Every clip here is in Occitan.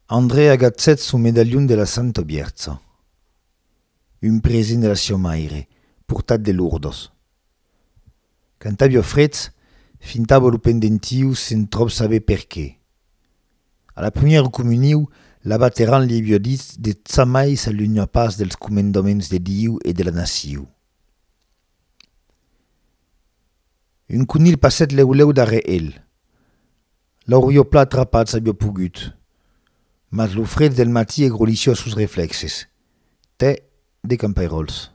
Andrè agatzèt son medalhon de la Santa Bièrtza, un present de la siá maire, portat de Lourdes. Quand aviá frets, fintava lo pendentiu sen tròp saber per qué. A la primièra comuniu, l'abat errant li aviá dit de ça mai s'alunha pas dels comendaments de Diu e de la naciu. Un conilh passèt lèu lèu darrèr el. L'aurio pas trapat s'avió pogut, mas lo fred del matí e grolissió sos reflèxes. Tè de campairòls.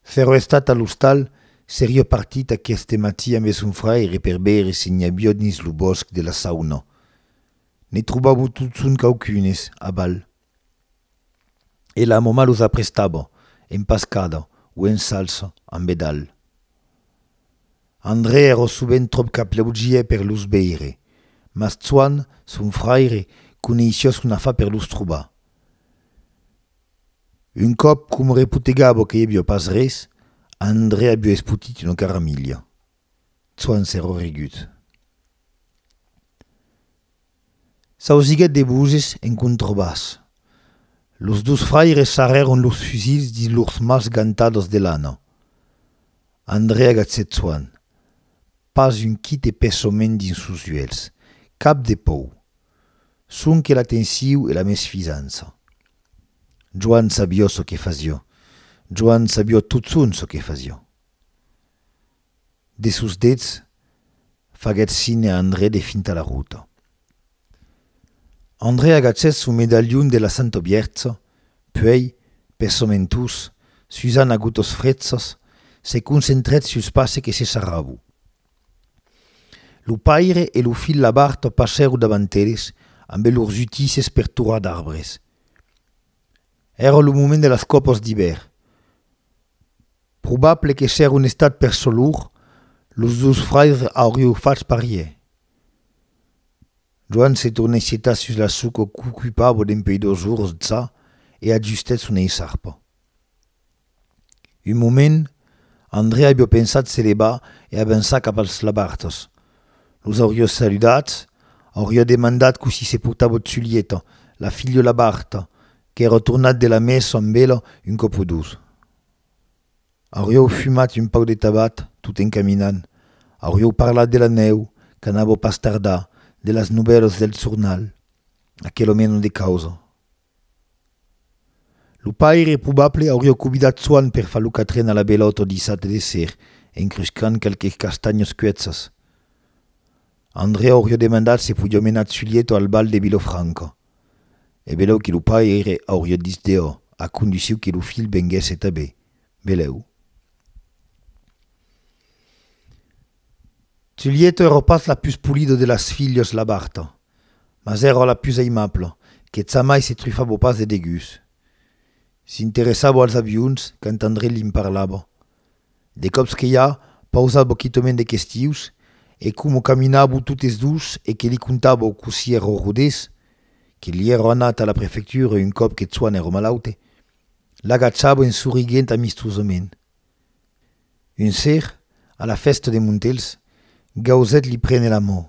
S'èro estat a l'ostal, serió partit aqueste matí ambe son fraire per veire se n'i avió dins lo bòsc de la Sauna. Ne trobavo tot son quauqu'unes, a balh. e la moma los aprestava en pascada o en salsa amb bedalh. Andrè èra sovent tròp qu'aplaudiè per los veire, mas Tsoan, son fraire, coneissiá son afar per los trobar. Un còp, coma repotegava que i aviá pas res, Andrè aviá espotit una caramilha. Tsoan s'èra rigut. S'ausiguèt de boses en contrebàs. Los dus fraires sarrèron los fusils dins lors mans gantadas de lana. Andrea Gatsetsuan, pas un quite pessament dins sos uèlhs, cap de pòu. Sonque la tensiu e la mesfizança. Joan sabió çò que fasió. Joan sabió totson çò que fasió. de sos dets faguèt signe a Andrè de fintar la rota. Andrè agachèt son medalhon de la Santa Viertza, puèi, per son entús, susant a gotas frètzas, se concentrèt sus passe que se sarravo. Lo paire e lo filh Labarta passèro davant eles ambe lors utisses per torar d'arbres. Èra lo moment de las còpas d'ivèr. Probable que s'èra un estat per solur, los dus fraires aurieu fach parier. Joan se tornèt sietar sus la suca qu'ocupava dempuèi dos ors d'ça e ajustèt son eissarpa. Un moment, Andrèa avió pensat se levar e avançar cap als labartas. Los aurió saludats, aurió demandat cossí se portava Tzulieta, la filha labarta, qu'èra tornat de la messa amb ela un còp o dos. Aurió fumat un pauc de tabac tot en caminant, aurió parlat de la nèu qu'anava pas tardar, de las novèlas del jornal, aquela mena de causa. Lo paire probable auriá cobidat Soan per far lo catren a la belòt ò dissat léser, encruscant qualques castanhos cuètzas. Andrè auriá demandat se podiá menar Tsulieto al bal de Vilofranca. E belèu que lo paire auriá dich deò, a conduciu que lo filh venguèsse tabé. Belèu. Tsulieto èra pas la pus polida de las filhas labarta. mas èra la pus aimabla, que jamai se trufava pas de degús. S'interessava als avions quand Andrei li'n parlava. De còps que ja pausava quitament de questius, e coma caminava totes dus e que li contava o cossí èra o rodés, que li èra anat a la prefectura un còp que Chuan èra malaute, l'agachava en soriguent amistosament. Un ser, a la fèsta de Montelhs, Gauzet li prene la mò,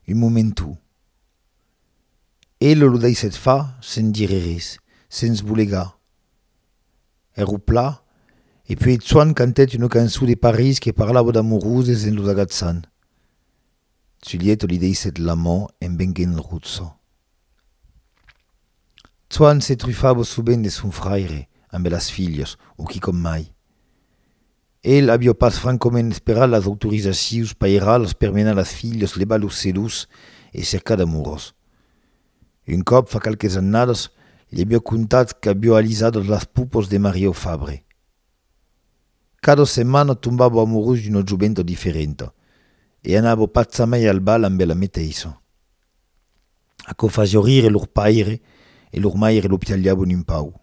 un momentu. Elo lo daissèt far sens dire res, sens bolegar. Ère au pla, e puèi Tsuan cantèt una cançon de París que parlava d'amoroses en los agatsant. Giulietto li deissèt la man en venguent rutzo. Tsoan se trufava sovent de son fraire ambe las filhas, o quicòm mai. El aviá pas francament esperat las autorizacions pairalas per menar las filhas levar los celus e cercar d'amorós. Un còp, fa qualques annadas, li aviá contat qu'aviá alisat las pupos de Mario Fabre. Cada setmana tombavo amorós d'una joventa diferenta e anavo pas jamai al bal ambe la meteissa. Aquò fasiá rire lor paire e lor maire lo pialhavon un pauc.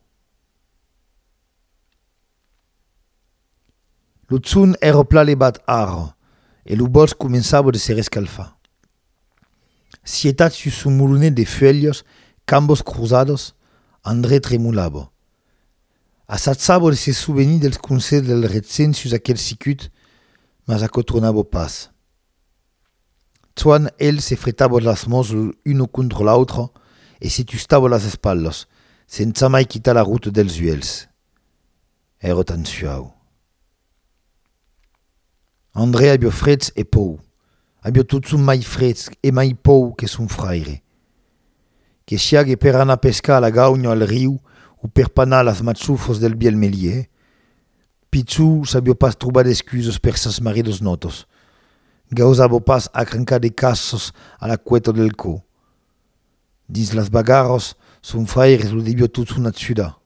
Lo son èra plan levat ara e lo bòsc començava de se rescalfar. Sietat sus son molonet de fuèlhas cambas crosadas, Andrè tremolava. A sat saber se sovenir dels conselhs del Retzen sus aquel sicut, mas aquò tronava pas. Soan el se fretava las mans l'una contra l'autra e se tustava las espalhas, sensa mai quitar la ruta dels uèlhs. Èra tan suau. Andrè avió frets e pòu. Avió totson mai frets e mai pòu que son fraire. Que siague per anar pescar a la gaunha o al riu o per panar las matsufos del biel melier, Pichou savió pas trobar d'excusos per sas maridos notos. Gausavo pas acrancar de cassos a la cueta del cò. Dins las bagarros, son fraire lo devió totson atsudar.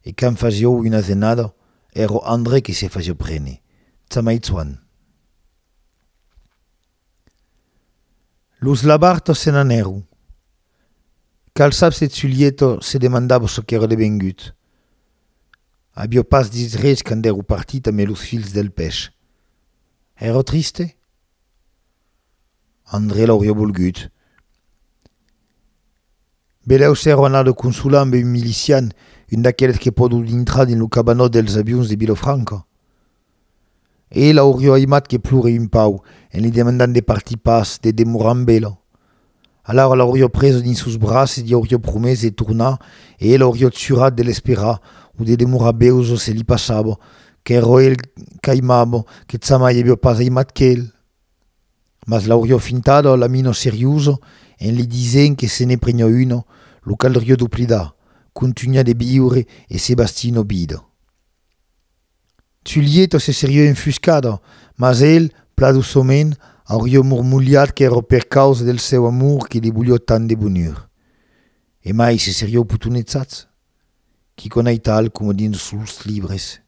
E quand fasiou una asenada, èro André qui se fasiou prene. Tsamaitsuan. Los labartos se n'anèron. Calçaps e Tsulieto se demandava çò qu'èra devengut. Avió pas dit res quand èro partit amé los filhs del pèsh. Èra triste? André l'aurió volgut. Belèu s'èro anat consolar amb un milician, un d'aqueles que pòdon dintrar dins lo cabanòt dels avions de Vilafranca. E l'aurió aimat que plore un pauc, en li demandant de partir pas, de demorar amb ela. Alara l'aurió presa dins sos braces, li aurió promés de tornar e ela aurió jurat de l'esperar o de demorar bèu çò se li passava, qu'èro el qu'aimava, que jamai avió pas aimat qu'el. Mas l'aurió fintada la mina seriosa en li disent que se ne prenió una, lo caldrió doblidar, contunhar de viure e se bastir una vida. Julieta se serió enfuscada, mas el, pla doçament, aurió mormolhat qu'èra per causa del seu amor que li volió tant de bonur. E mai se serió potonetsats, quicònaital coma dins los libres.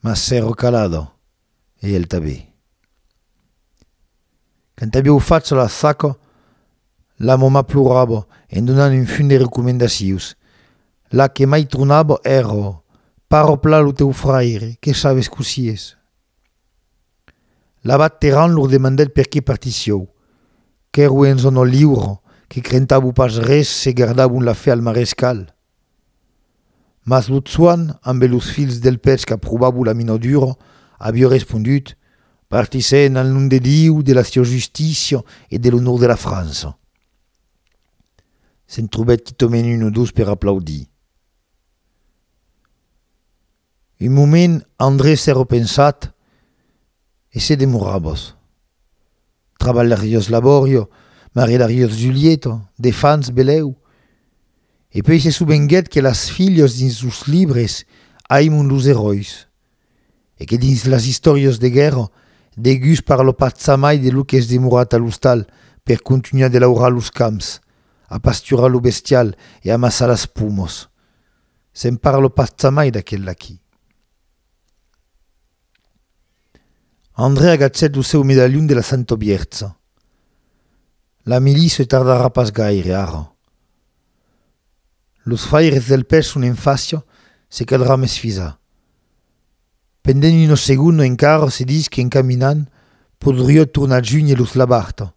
Mas s'èro calada, e el tanben. Quand aviou fach la saca, la mama plorava en donant un fum de recomendacions. La que mai tronava èra, Paròpla lo teu fraire, que sabes cossí es. L'abat Terrant lor demandèt perqué partissiou. Qu'èro en zòna liura, que crentavo pas res se gardavon la fe al marescal. Mas lo tsoan ambe los fils del pèth qu'a probabo la minadura, avió respondut, Partissè en al nom de Diu, de la siá justícia e de l'onor de la França. Se'n trobèt quitament un o dos per aplaudir. Un moment André s'è repensat e se demorabos. Trabalharios Laborio, maridarios Julieto, de fans belèu. E puèi se sovenguèt que las filhos dins los libres aimon los eròis e que dins las istòrios de guèrra degus per lo patzamai de lo qu'es demorat a l'ostal per contunhar de laurar los camps, a pasturar lo bestial e amassar las pumos. Se'n parle pas jamai d'aquel d'aquí. Andrè agachèt lo seu medalhon de la Santa Bièrcha. La milice tardarà pas gaire, ara. Los fraires del pèl son en fàcia, se caldrà mesfisar. Pendent una segonda encara se dis qu'en caminant podriá tornar junhe los Labarta.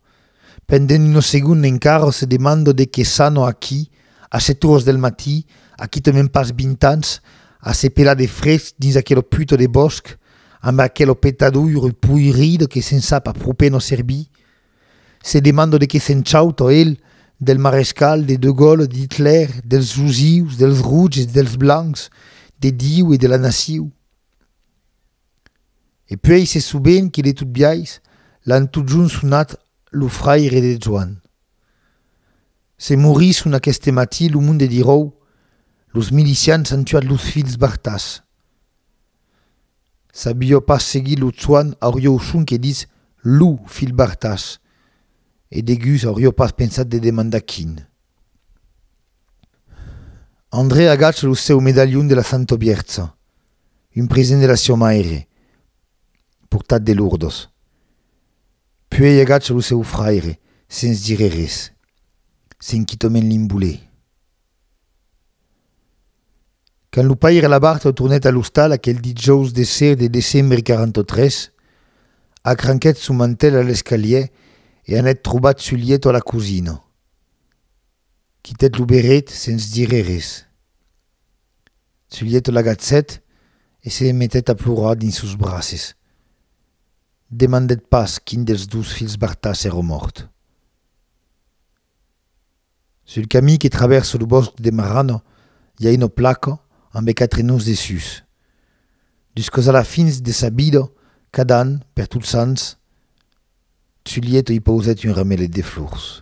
Pendent una segonda encara se demanda de qué s'ana aquí a sèt oras del matí, a quitament pas vint ans, a se pelar de fred dins aquela puta de bòsc, amb aquela petadoira poirida que se'n sap a pro pena servir. Se demando de qué se'n chauto el, del marescal, de De Gaulle, d'Hitler, dels rosius, dels rouges e dels blancs, de Diu e de la naciu. E puèi se soben que de tot biais l'an totjorn sonat lo fraire de Joan. Se morisson aqueste matí lo monde diròu, los milicians an tuat los filhs Bartas, Sabió pas seguir lo soanh aurió son que ditz lo filh Bartas, e degus aurió pas pensat de demandar quin. André agacha lo seu medalhon de la Santa Biertza, un present de la siá maire, portat de Lourdes. Puèi agacha lo seu fraire, sens dire res, senquitament l'imbolé. Quand lo paire Labarthe tornèt a l'ostal aquel dijòus de ser de decembre 43, acranquèt son mantèl a l'escalier e anèt trobar Zulietto a la cosina. Quitèt lo berret sens dire res. Zulietto l'agacèt e se metèt a plorar dins sos braces. Demandèt pas quin dels dos filhs Bartas èra mòrt. Sul camí que travèrsa lo bòsc de Marrano i a una placa ambe quatre noms dessús. Dus casalà fins de sa vida, cada an, per Totsants, Zulietto i pausèt un ramelet de flors.